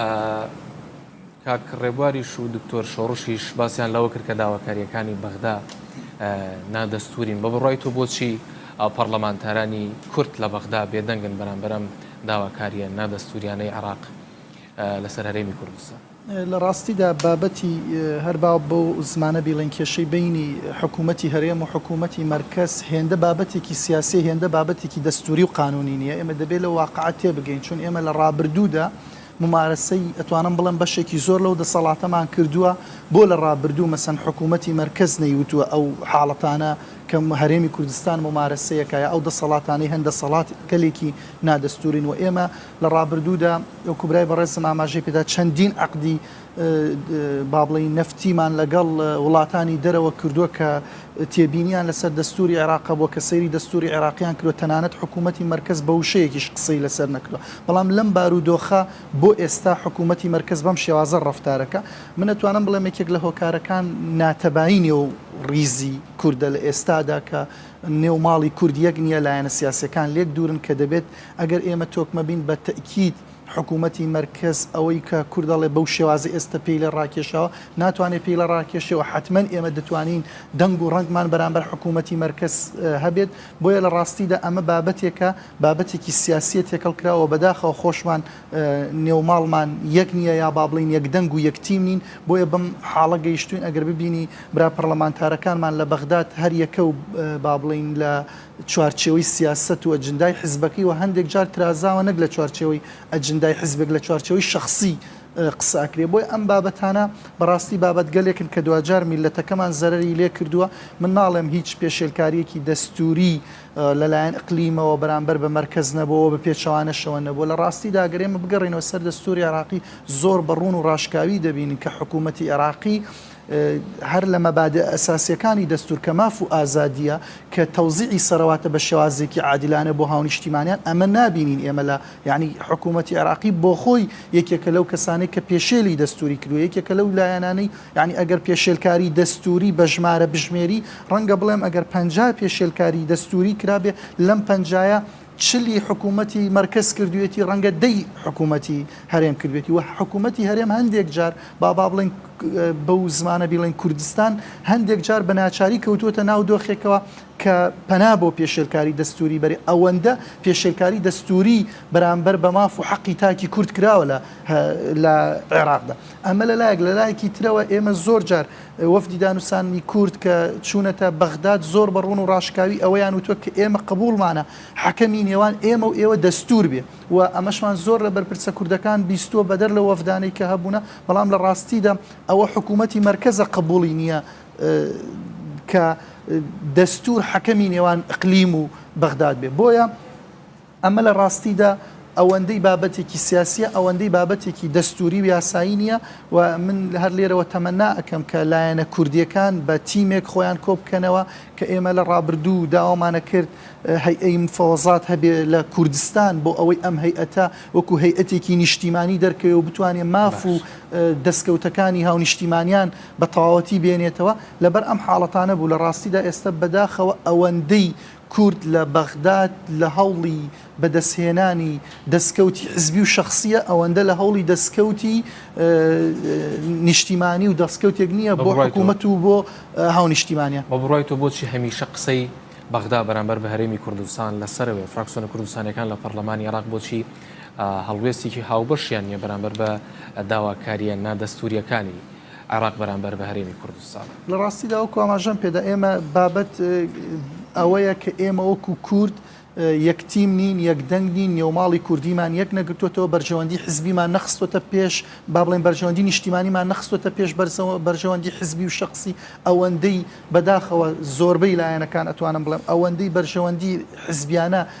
کاک ڕێبواریش و دکتۆر شۆڕشیش باسیان لەوە کرد کە داواکارییەکانی بەغدا نادەستورین بە بڕای تۆ بۆچی پەرلەمانتارانی کورد لە بەغدا بێدەنگن بەرامبەرم داواکاریە نادەستوریانەی عراق لەسەر هەرێمی کوردستان. لە ڕاستیدا بابەتی، هەر با بەو زمانە بیڵێین، کێشەی بەینی حکوومەتی هەرێم و حکوومەتی مەرکەز هێندە بابەتێکی سیاسییە، هێندە بابەتێکی دەستووری و قانوونی نییە. ئێمە دەبێ لەو واقعە تێ بگەین. چون ئێمە لە ڕابردوودا مومارەسەی، ئەتوانم بڵێم بەشێکی زۆر لەو دەسەڵاتەمان کردووە، بۆ لە ڕابردوو مەسەن حکوومەتی مەرکەز نەیوتووە ئەو حاڵەتانە کە هەرێمی کوردستان مومارەسەیەکە یا ئەو دەسەڵاتانەی هەن دەسەڵاتگەلێکی نادەستوورین و ئێمە لە ڕابردوودا وەکو برای بەڕێزم ئاماژەی پێدا چەندین عەقدی با بڵێین نەفتیمان لەگەڵ وڵاتانی دەرەوە کردووە کە تێبینیان لەسەر دەستوری عێراق بووە کە سەیری دەستوری عێراقیان کردوە تەنانەت حکوومەتی مەرکز بە وشەیەکیش قسەی لەسەر نەکردوە بەڵام لەم بارودۆخە بۆ ئێستا حکوومەتی مەرکز بەم شێوازە ڕفتارەکە من ئەتوانم بڵێم یەکێک لە هۆکارەکان ناتەبایینی و ڕیزی کوردە لە ئێستادا کە نێو ماڵی کورد یەک نیە، لایەنە سیاسیەکان لێک دوورن کە دەبێت ئەگەر ئێمە تۆکمە بین بە تەئکید حکوومەتی مەرکەز ئەوەی کە کورد دەڵێ بەو شێوازەی ئێستە پێی لێ ڕاکێشاوە ناتوانێ پێی لە ڕاکێشێەوە حەتمەن ئێمە دەتوانین دەنگ و ڕەنگمان بەرامبەر حکوومەتی مەرکەز هەبێت بۆیە لە ڕاستیدا ئەمە بابەتێکە بابەتێکی سیاسیە تێکەڵ کراوە بەداخەوە خۆشمان نێو ماڵمان یەک نیە یا با بڵێین یەک دەنگ و یەک تیم نین بۆیە بەم حاڵە گەیشتوین ئەگەر ببینی برا پەڕلەمانتارەکانمان لە بەغداد هەر یەکە و با بڵێین لە چوارچێوەی سیاسەت و ئەجندای حزبەکەی و هەندێک جار ترازاوە نەک لە چوارچێوەی ئەجندای حزبێک لە چوارچێوەی شەخسی قسە ئەکرێ بۆیە ئەم بابەتانە بەڕاستی بابەتگەلێکن کە دواجار میللەتەکەمان زەرەری لێ کردووە من ناڵێم هیچ پێشێلکاریەکی دەستوری لەلایەن ئقلیمەوە بەرامبەر بە مەرکەز نەبووە و بە پێچەوانەشەوە نەبووە. لە ڕاستیدا ئەگەر ئێمە بگەڕێینەوە سەر دەستووری عێراقی زۆر بە ڕوون و ڕاشکاوی دەبینین کە حکوومەتی عێراقی هەر لە مەبادئ ئەساسییەکانی دەستوور کە ماف و ئازادییە کە تەوزیعی سەرەواتە بە شێوازێکی عادیلانە بۆ هاونیشتیمانیان ئەمە نابینین ئێمە لە یانی حکوومەتی عێراقی بۆخۆی یەکێکە لەو کەسانەی کە پێشێلی دەستووری کردووە یەکێکە لەو لایەنانەی یانی ئەگەر پێشێلکاری دەستووری بە ژمارە بژمێری، ڕەنگە بڵێم ئەگەر پەنجا پێشێلکاری دەستووری کرابێ، لەم پەنجایە چل ی حکوومەتی مەرکەز کردووێتی، ڕەنگە دە ی حکوومەتی هەرێم کردووێتی و حکوومەتی هەرێم هەندێک جار با با بڵێین بەو زمانە بیڵێین کوردستان هەندێک جار بە ناچاری کەوتووەتە ناو دۆخێکەوە کە پەنا بۆ پێشێلکاری دەستووری بەرێ ئەوەندە پێشێلکاری دەستووری بەرامبەر بە ماف و حەقی تاکی کورد کراوە لە عێراقدا. ئەمە لە لایەک، لە لایەکی ترەوە ئێمە زۆر جار وەفدی دانوستاندنی کورد کە چوونەتە بەغداد زۆر بە ڕوون و ڕاشکاوی ئەوەیان وتووە کە ئێمە قبووڵمانە حەکەمی نێوان ئێمە و ئێوە دەستوور بێ و ئەمەشمان زۆر لە بەرپرسە کوردەکان بیستووە بەدەر لەو وەفدانەی کە هەبوونە بەڵام لە ڕاستیدا ئەوە حکوومەتی مەرکەزە قبووڵی نییە کە دەستوور حەکەمی نێوان ئیقلیم و بەغداد بێ بۆیە ئەمە لە ڕاستیدا ئەوەندەی بابەتێکی سیاسییە، ئەوەندەی بابەتێکی دەستووری و یاسایی نییە و من هەر لێرەوە تەمەنا ئەکەم کە لایەنە کوردییەکان بە تیمێک خۆیان کۆ بکەنەوە کە ئێمە لە ڕابردوو داوامانە کرد هەیئەی مفەوەزات هەبێ لە کوردستان بۆ ئەوەی ئەم هەیئەتە وەکوو هەیئەتێکی نیشتیمانی دەرکەوێ و بتوانێ ماف و دەستکەوتەکانی هاونیشتیمانیان بە تەواوەتی بێنێتەوە لەبەر ئەم حاڵەتانە بوو. لە ڕاستیدا ئێستە بەداخەوە ئەوەندەی کورد لە بەغداد لە هەوڵی بەدەستهێنانی دەستکەوتی حزبی و شەخسییە، ئەوەندە لە هەوڵی دەستکەوتی نیشتیمانی و دەستکەوتێک نییە بۆ حکوومەت و بۆ هاونیشتیمانیان. بە بڕوای تۆ بۆچی هەمیشە قسەی بەغدا بەرامبەر بە هەرێمی کوردستان لە سەرەوەیە؟ فراکسیۆنە کوردستانییەکان لە پەرلەمانی عێراق بۆچی هەڵوێستێکی هاوبەشیان نییە بەرامبەر بە داواکارییە نادەستوورییەکانی؟ عێراق بەرامبەر بە هەرێمی کوردستان. لە ڕاستیدا وەکو ئاماژەم پێدا ئێمە بابەت ئەوەیە کە ئێمە وەکو کورد یەک تیم نین، یەک دەنگ نین، نێوماڵی کوردیمان یەک نەگرتووەتەوە، بەرژەوەندی حزبیمان نەخستۆتە پێش، با بڵێن بەرژەوەندی نیشتیمانیمان نەخستۆتە پێش بەرژەوەندی حزبی و شەخسی، ئەوەندەی بەداخەوە زۆربەی لایەنەکان ئەتوانم بڵێم ئەوەندەی بەرژەوەندی حزبیانە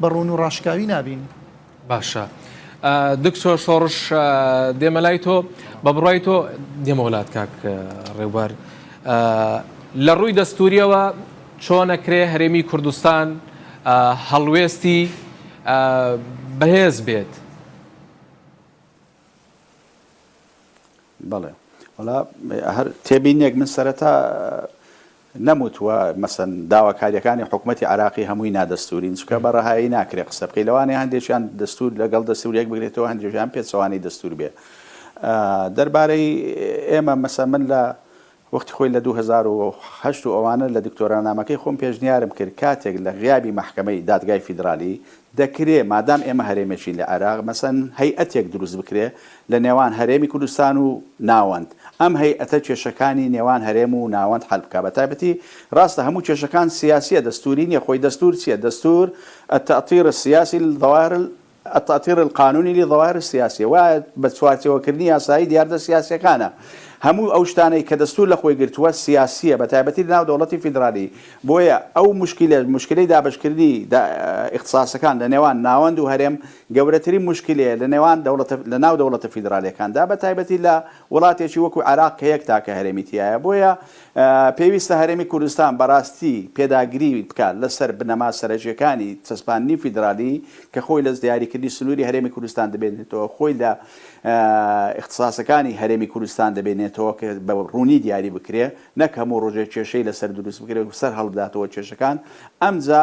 بە ڕوون و ڕاشکاوی نابین. باشە دکتۆر شۆڕش دێمە لای تۆ بە بڕای تۆ دێمە وڵات کاک ڕێوبەر لە ڕووی دەستوریەوە چۆنەکرێ هەرێمی کوردستان هەڵوێستی بەهێز بێت بەڵێ وڵا هەر تێبینێک من سەرەتا نەموت و مەسەن داواکاریەکانی حکومەتی عێراقی هەمووی نادەستورین چونکە بە ڕەهایی ناکرێ قسە بکەی لەوانەیە هەندێکیان دەستور لەگەڵ دەستور یەک بگرێتەوە هەندێکیان پێچەوانەی دەستور بێ دەربارەی ئێمە مەسە من لە وەختی خۆی لە دوو هەزار و هەشت و ئەوانە لە دکتۆرانامەکەی خۆم پێشنیارم کرد کاتێک لە غیابی مەحکەمەی دادگای فیدرالی دەکرێ مادام ئێمە هەرێمێکین لە عێراق مەسەن هەیئەتێک دروست بکرێ لە نێوان هەرێمی کوردستان و ناوەند، ئەم هەیئەتە کێشەکانی نێوان هەرێم و ناوەند حەل بکا بە تایبەتی راستە هەموو کێشەکان سیاسیە دەستوری نیە خۆی دەستور چیە دەستور التاطیر السیاسی للظواهر التاطیر القانونی للظواهر السیاسیە وایە بە چوارچێوە کردنی یاسایی دیاردە سیاسیەکانە هەموو ئەو شتانەی کە دەستور لە خۆی گرتوە سیاسیە بە تایبەتی لە ناو دەوڵەتی فیدرالی بۆیە ئەو موشکیلە موشکیلەی دابەشکردنی اختصاسەکان لە نێوان ناوەند و هەرێم گەورەترین موشکیلەیە لە نێوان دەوڵەتە لە ناو دەوڵەتە فیدرالیەکاندا بە تایبەتی لە وڵاتێکی وەکو عێراق کە یەک تاکە هەرێمی تیایە بۆیە پێویستە هەرێمی کوردستان بەڕاستی پێداگری بکات لە سەر بنەما سەرەکیەکانی چەسپاندنی فیدرالی کە خۆی لە دیاریکردنی سنوری هەرێمی کوردستان دەبێنێتەوە خۆی لە ئیختساسەکانی هەرێمی کوردستان دەبێنێتەوە کە بە ڕوونی دیاری بکرێ نەک هەموو ڕۆژێ کێشەی لەسەر دروست بکرێت و سەر هەڵبداتەوە کێشەکان ئەمجا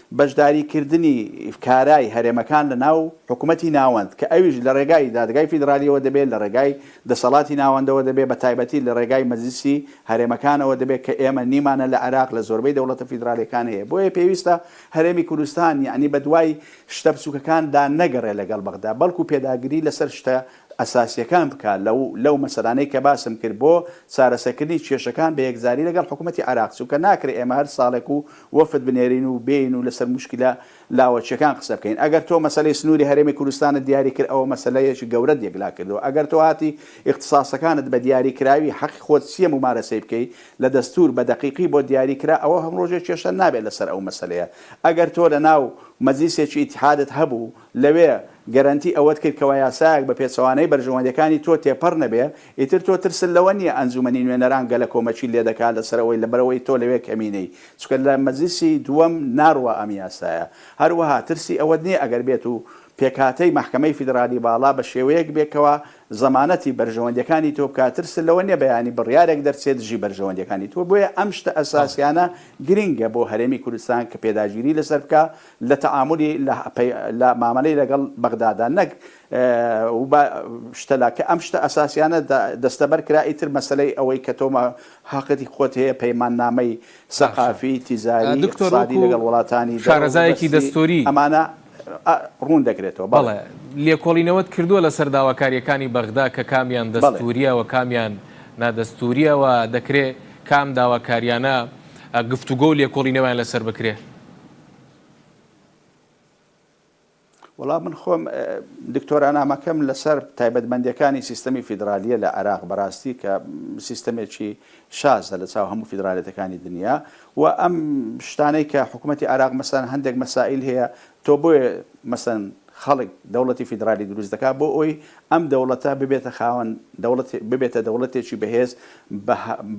بەشداریکردنی کارای هەرێمەکان لە ناو حکومەتی ناوەند کە ئەویش لە ڕێگای دادگای فیدرالیەوە دەبێ، لە ڕێگای دەسەڵاتی ناوەندەوە دەبێ، بە تایبەتی لە ڕێگای مەجلیسی هەرێمەکانەوە دەبێ کە ئێمە نیمانە لە عێراق لە زۆربەی دەوڵەتە فیدرالیەکان هەیە. بۆیە پێویستە هەرێمی کوردستان یەعنی بە دوای شتە بچووکەکان دا نەگەڕێ لە گەڵ بەغدا بەڵکوو پێداگری لە سەر شتە ئەساسییەکان بکا، لەو مەسەلانەی کە باسم کرد بۆ چارەسەکردنی کێشەکان بە یەکجاری لەگەڵ حکومەتی عێراق، چونکە ناکرێ ئێمە هەر ساڵێک و وەفد بنێرین و بێین و لەسەر موشکیلە لاوەکییەکان قسە بکەین. ئەگەر تۆ مەسەلەی سنووری هەرێمی کوردستانت دیاری کرد ئەوە مەسەلەیەکی گەورەت یەکلا کردووە، ئەگەر تۆ هاتی ئیختساسەکانت بە دیاریکراوی حەقی خۆت چییە مومارەسەی بکەی لە دەستوور بە دەقیقی بۆت دیاری کرا ئەوە هەمڕۆژێ کێشە نابێت لەسەر ئەو مەسەلەیە ئەگەر تۆ لەناو مەجلیسێکی ئیتحادت هەبوو لەوێ گەرەنتی ئەوەت کرد کەوا یاسایەک بە پێچەوانەی بەرژەوەندیەکانی تۆ تێپەڕ نەبێ، ئیتر تۆ ترست لەوە نیە ئەنجومەنی نوێنەران گەلە کۆمەکی لێ دەکا لەسەر ئەوەی لەبەرئەوەی تۆ لەوێ کەمینەی چونکە لە مەجلیسی دووەم ناڕوا ئەم یاسایە، هەروەها ترسی ئەوەت نیە ئەگەر بێت و پێکهاتەی مەحکەمەی فیدرالی باڵا بە شێوەیەک بێ کەوا زەمانەتی بەرژەوەندیەکانی تۆ بکا ترست لەوە نیە بەیانی بڕیارێک دەرچێ دژی بەرژەوەندیەکانی تۆ بۆیە ئەم شتە ئەساسیانە گرینگە بۆ هەرێمی کوردستان کە پێداگیری لەسەر بکا لە تەعامولی لە مامەلەی لەگەڵ بەغدادا نەک و بە شتە لا کە ئەم شتە ئەساسیانە دەستەبەر کرا ئیتر مەسەلەی ئەوەی کە تۆ هەقتی خۆت هەیە پەیمان نامەی سەقافی تیزاری ئیقتسادی لەگەڵ وڵاتانی شارەزایەکی دەستوری ئەمانە ڕوون دەکرێتەوە بەڵێ لێکۆڵینەوەت کردووە لەسەر داواکاریەکانی بەغدا کە کامیان دەستوریە و کامیان نادەستوریە و دەکرێ کام داواکاریانە گفتوگۆ و لێکۆڵینەوەیان لەسەر بکرێ؟ وەڵا من خۆم دکتۆرانامەکەم لەسەر تایبەتمەندەکانی سیستەمی فیدراالیە لە عراق بەڕاستی کە سیستەمێکی شازە لە چاو هەموو فیدراالەتەکانی دنیا و ئەم شتانەی کە حکوومەتتی عراق مەسان هەندێک مەسائل هەیە تۆ بۆیە مەسن خەڵک دەوڵەتی فیدراالی دروست دەکات بۆ ئەوی ئەم دەوڵەتە ببێتە خاوەن دەوڵەت ببێتە دەوڵەتێکی بەهێز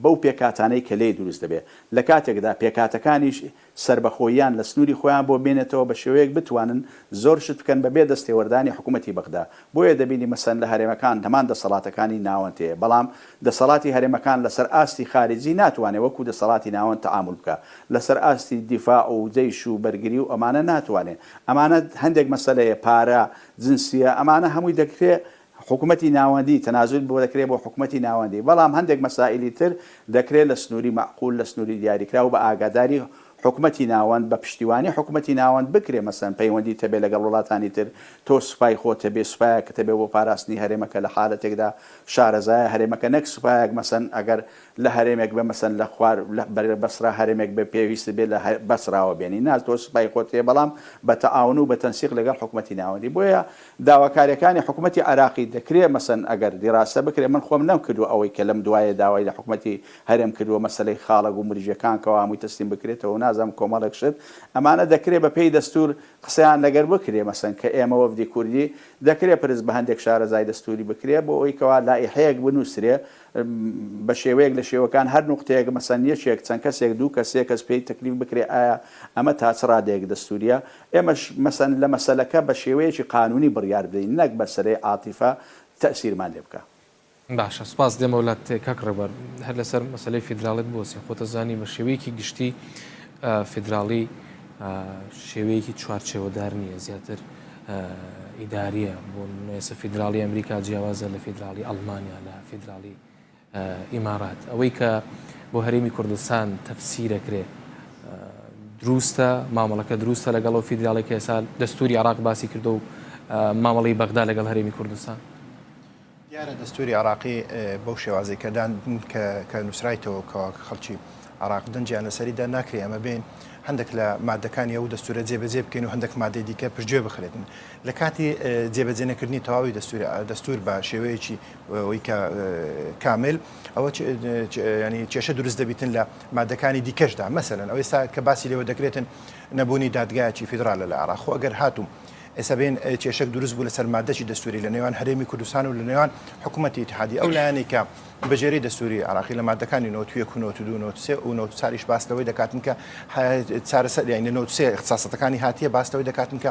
بەو پێکاتانەی کە لی دروست دەبێت لە کاتێکدا پێکاتەکانیش سەربەخۆییان لە سنووری خۆیان بۆ بێنێتەوە بە شێوەیەک بتوانن زۆر شت بکەن بەبێ دەستێوەردانی حکوومەتی بەغدا، بۆیە دەبینی مەسەن لە هەرێمەکان هەمان دەسەڵاتەکانی ناوەند هەیە، بەڵام دەسەڵاتی هەرێمەکان لەسەر ئاستی خارجی ناتوانێ وەکوو دەسەڵاتی ناوەند تەعامول بکا، لەسەر ئاستی دیفاع و جەیش و بەرگری و ئەمانە ناتوانێ، ئەمانە هەندێک مەسەلەیە، پارە، جنسیە، ئەمانە هەمووی دەکرێ حکومەتی ناوەندی، تەنازول بۆ دەکرێت بۆ حکومەتی ناوەندی، بەڵام هەندێک مەسائیلی تر دەکرێت لە سنووری مەعقول، لە سنووری دیاریکراو بە ئاگاداری حکومەتی ناوەند، بە پشتیوانی حکومەتی ناوەند بکرێت، مەسەلەن پەیوەندیت هەبێت لەگەڵ وڵاتانی تر، تۆ سوپای خۆت هەبێت، سوپایەکت هەبێت بۆ پاراستنی هەرێمەکە لە حالەتێکدا شارەزایە هەرێمەکە نەک سوپایەک مەسەلەن ئەگەر لە هەرێمێک بێت مەسەلەن لە خوار لە بەرەی بەسرا هەرێمێک بێت پێویستت بێت لە بەسراوە بێنی نا تۆ سوپای خۆت هەیە بەڵام بە تەعاون و بە تەنسیق لەگەڵ حکومەتی ناوەندی بۆیە داواکاریەکانی حکومەتی عێراقی دەکرێ مەسەن ئەگەر دیراسە بکرێ من خۆم نەم کردوە ئەوەی کە لەم دوایە داوای لە حکومەتی هەرێم کردوە مەسەلەی خاڵە گومرجیەکان کەوا هەمووی تەسلیم بکرێتەوە و نازانم کۆمەڵێک شت ئەمانە دەکرێ بە پێی دەستور قسەیان لەگەر بکرێ مەسەن کە ئێمە وەفدی کوردی دەکرێ پرس بە هەندێک شارەزای دەستوری بکرێ بۆ ئەوەی کەوا لائیحەیەک بنوسرێ بە شێوەیەک لە شێوەکان هەر نوقتەیەک مەسەن یەکێک چەند کەسێک دوو کەس سێ کەس پێی تەکلیف بکرێ ئایا ئەمە تا چ ڕادەیەک دەستوریە ئێمەش مەسەن لە مەسەلەکە بە شێوەیەکی قانوونی بڕیار بدەین نەک بە سرەی عاتیفە تەئسیرمان لێ بکا. باشە سپاس دێمە ولات کاک ڕێبەر هەر لەسەر مەسەلەی فیدراڵیت بوەستین خۆت ئەزانی بە شێوەیەکی گشتی فیدراڵی شێوەیەکی چوارچێوەدار نییە زیاتر ئیداریە بۆ نوێسە فیدراڵی ئەمریکا جیاوازە لە فیدراڵی ئەڵمانیا لە فیدراڵی ئیمارات ئەوەی کە بۆ هەرێمی کوردستان تەفسیرەکرێ دروستە مامەڵەکە دروستە لەگەڵ و فیدراڵی کەسا دەستوری عراق باسی کردو و مامەڵی بەغدا لەگەڵ هەرێمی کوردستان دیارە دەستوری عراقی بەو شێوازی کەدان کە نووسرایتەوە کەوا خەڵکی عراق دەنجیان لەسەریدا ناکرێ ئەمە بین هەندێک لە مادەکانی ئەو دەستورە جێبەجێ بکەین و هەندێک مادەی دیکە پشتگوێ بخرێتن لە کاتی جێبەجێنەکردنی تەواوی دەستور دەستور بە شێوەیەکی ئەوەی کە کامل ئەوە ینی کێشە دروست دەبیتن لە مادەکانی دیکەشدا مەسەن ئەوەی سا کە باسی لێوە دەکرێتن نەبوونی دادگایکی فیدرالە لە عراخۆ ئەگەر هاتووم ئێستا بێن کێشک دروست بوو لەسەر مادەی دەستوری لە نێوان هەرێمی کوردستان و لە نێوان حکوومەتتی تحادی ئەو لایەنێکە بەجێری دەستوری عراقی لە مادەکانی نوتویەک و نوتدو نوسێ و نوت چاریش باستەوەی دەکاتن کە چارەسەر یانی نوسێ اختصاستەکانی هاتیە باستەوەی دەکاتن کە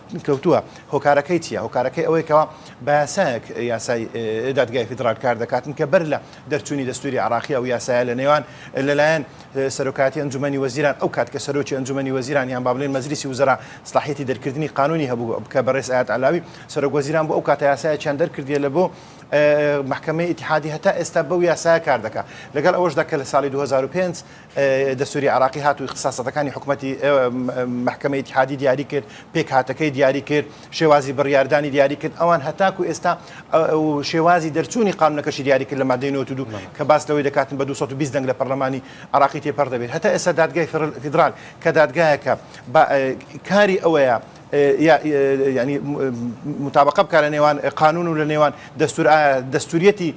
کەوتووە هۆکارەکەی چیە هۆکارەکەی ئەوەی کەەوە باسایەک یاسای دادگای فیدرال کار دەکاتن کە بەر لە دەرچووی دەستوری عراقی و یاسایە لە نێوان لەلایەن سەرۆکاتی ئەنجومی وەزیران ئەو کات کە سەرۆکی ئەنجومی وەزیران یان بابلین مەزلیسی وزرا سلاحەتی دەرکردنی قانونی هەبوو بکە بەڕێز ئاات علاوی سەرۆک وەزیران بۆ ئەو کاتە یاسایەکیان دەرکردیە لە بۆ محکمەی ئتیحادی هەتا ئێستا بەو یاسایە کار دەکە لەگەڵ ئەوەشدا کە لە ساڵی 2005 دەستووری عێراقی هات و ئیختساساتەکانی حکومەتی مەحکەمەی ئیتیحادی دیاری کرد، پێکهاتەکەی دیاری کرد، شێوازی بڕیاردانی دیاری کرد، ئەوان هەتاکو ئێستا شێوازی دەرچوونی قانونەکەشی دیاری کرد لە مادەی 92 کە باس لەوەی دەکاتن بە 220 دەنگ لە پەرلەمانی عێراقی تێپەڕ دەبێت. هەتا ئێستا دادگای فیدڕال کە دادگایەکە کاری ئەوەیە یا یانی متابەقە بکا لە نێوان قانون و لە نێوان دەستور ئایا دەستوریەتی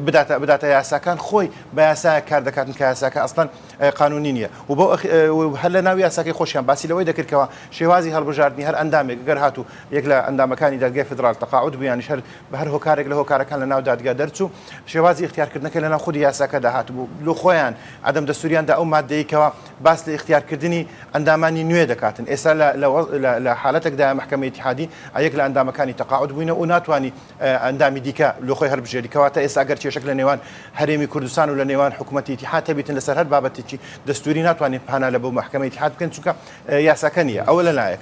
بداتە بداتە یاساکان خۆی بە یاسا کار دەکاتن کە یاساکە ئەستان قانونی نییە و بۆ هەر لە ناو یاساکەی خۆشیان باسی لەوەی دەکردکەوە شێوازی هەڵبژاردننی هەر ئەندامێک گەر هات و یەک لە ئەندامەکانی دادگای فدرال تەقاعد بوویان شەر بە هەر هۆکارێک لە هۆکارەکان لە ناو دادگا دەرچوو شێوازی اختیارکردنەکە لە ناو خودی یاساکە داهات بوو لۆ خۆیان عدم دەستوریان دا ئەو مادەیەکەوە باس لە ئیختیار کردنی ئەندامانی نوێ دەکاتن ئێستا لە حالەتەک دایە مەحکەمەی ئیتیحادی ئەیەک لە ئەندامەکانی تەقاعود بووینە و ناتوانانی ئەندامی دیکە لۆ خۆی هەربژێری کەواتە ئێستا گەر کێشەک لە نێوان هەرێمی کوردستان و لە نێوان حکوومەتی ئیتیحاد هەبیتن لەسەر هەر بابەتێکی دەستووری ناتوانین پانا لە بۆ مەحکەمەی ئیتیحاد بکەین چونکە یاساکە نییە ئەوە لە لایەک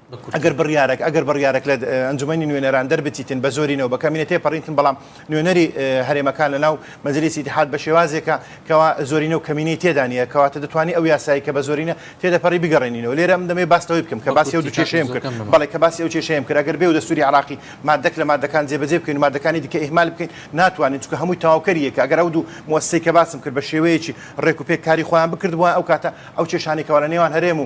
بە کورتی. ئەگەر بڕیارەک ئەگەر بڕیارەک لە ئەنجومەنی نوێنەران دەربچیتن بە زۆرینەوە بە کەمینە تێپەڕینتن بەڵام نوێنەری هەرێمەکان لەناو مەجلیسی ئیتیحاد بە شێوازێکە کەوا زۆرینە و کەمینەی تێدا نییە کەواتە دەتوانی ئەو یاسایی کە بە زۆرینە تێدەپەڕی بگەڕێنینەوە لێرە من دەمەوێ باس لەوەی بکەم کە بە باسی ئەو کورتی دوو کاکە کێشەیەم زۆر کرد کەم بە بەڵێ ماوە. کە باسی ئەو کێشەیەم کرد ئەگەر بێ و دەستووری عێراقی ماددەک لە ماددەکان جێبەجێ بکەین و ماددەکانی دیکە ئیهمال بکەین ناتوانین چونکە هەمووی تەواوکەری یەکە ئەگەر ئەو دوو موئەسسەی کە باسم کرد بە شێوەیەکی ڕێکوپێک کاری خۆیان بکردبوایە ئەو کاتە ئەو کێشانەی کەوا لە نێوان هەرێم و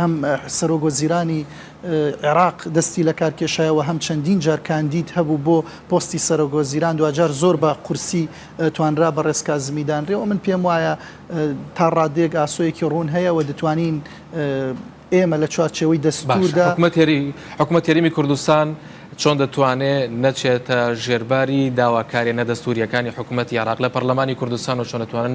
هەم سەرۆک وەزیرانی عێراق دەستی لەکارکێشایە و هەم چەندین جار کاندید هەبوو بۆ پۆستی سەرۆک وەزیران دواجار زۆر بە قورسی توانرا بەڕێز کازمی دانرێ و من پێم وایە تا ڕادەیەک ئاسۆیەکی ڕوون هەیە و دەتوانین ئێمە لە چوارچێوەی دەستوردا حکومەت تێریمی کوردستان چۆن دەتوانێ نەچێتە ژێرباری داواکارێنە دەستوریەکانی حکوومەت یاراق لە پەرلەمانی کوردستان و چۆنەتوانن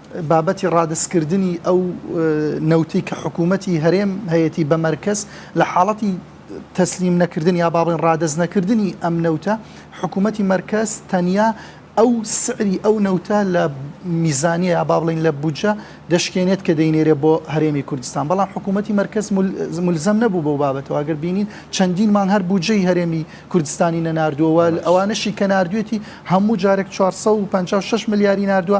بابەتی ڕادەستکردنی ئەو نەوتەی کە حکوومەتی هەرێم هەیەتی بە مەرکەز، لە حاڵەتی تەسلیم نەکردن یا با بڵێین ڕادەست نەکردنی ئەم نەوتە، حکوومەتی مەرکەز تەنیا ئەو سعری ئەو نەوتە لە میزانیە یا با بڵێین لە بودجە دەشکێنێت کە دەینێرێت بۆ هەرێمی کوردستان، بەڵام حکوومەتی مەرکەز مولزەم نەبوو بەو بابەتەوە، ئەگەر بینین چەندین مانگ هەر بودجەی هەرێمی کوردستانی نەناردووە و ئەوانەشی کە ناردوویەتی هەموو جارێک چوار سەد و پەنجا و شەش ملیاری ناردووە،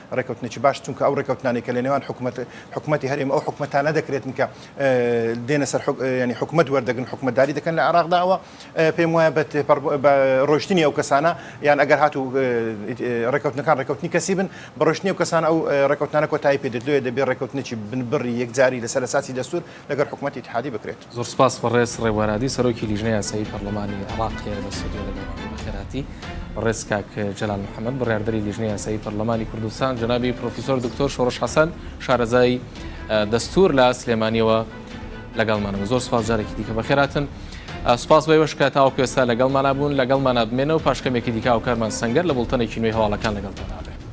ڕێکەوتنێکی باش چونکە ئەو ڕێکەوتنانەی کە لە نێوان حکومەت حکومەتی هەرێم ئەو حکومەتانە دەکرێتن کە دێنە سەر ینی حکومت وەردەگرن حکومەتداری دەکەن لە عراقدا ئەوە پێم وایە بە ڕۆشتنی ئەو کەسانە یان ئەگەر هاتو ڕێکەوتنەکان ڕێکەوتنی کەسی بن بە ڕۆشتنی و کەسان ئەو ڕێکەوتنانە کۆتایی پێ دەدوێ دەبێ ڕێکەوتنێکی بنبڕی یەکجاری لەسەر ساسی دەستور لەگەر حکومەتی تحادی بکرێت. زۆر سوپاس بەڕێز ڕێبوارادی سەرۆکی لیژنەی یاسایی پەرلەمانی عێراق هەیە لە ستۆدیۆ لەگەڵمانە بەخێرهاتی بەڕێز کاک جەلال محەممەد بڕیاردەری لیژنەی یاسایی پەرلەمانی کوردستان جەنابی پرۆفیسۆر دکتۆر شۆڕش حەسەن شارەزای دەستور لە سلێمانیەوە لەگەڵمانەوە زۆر سوپاس جارێکی دیکە بەخێراتن سوپاس بەوەش کە تاوەکو ئێستا لەگەڵمانە بوون لەگەڵمانە بمێنەوە پاشکەمێکی دیکە و کارمان سەنگەر لە بڵتەنێکی نوێی هەواڵەکان لەگەڵتان نابێت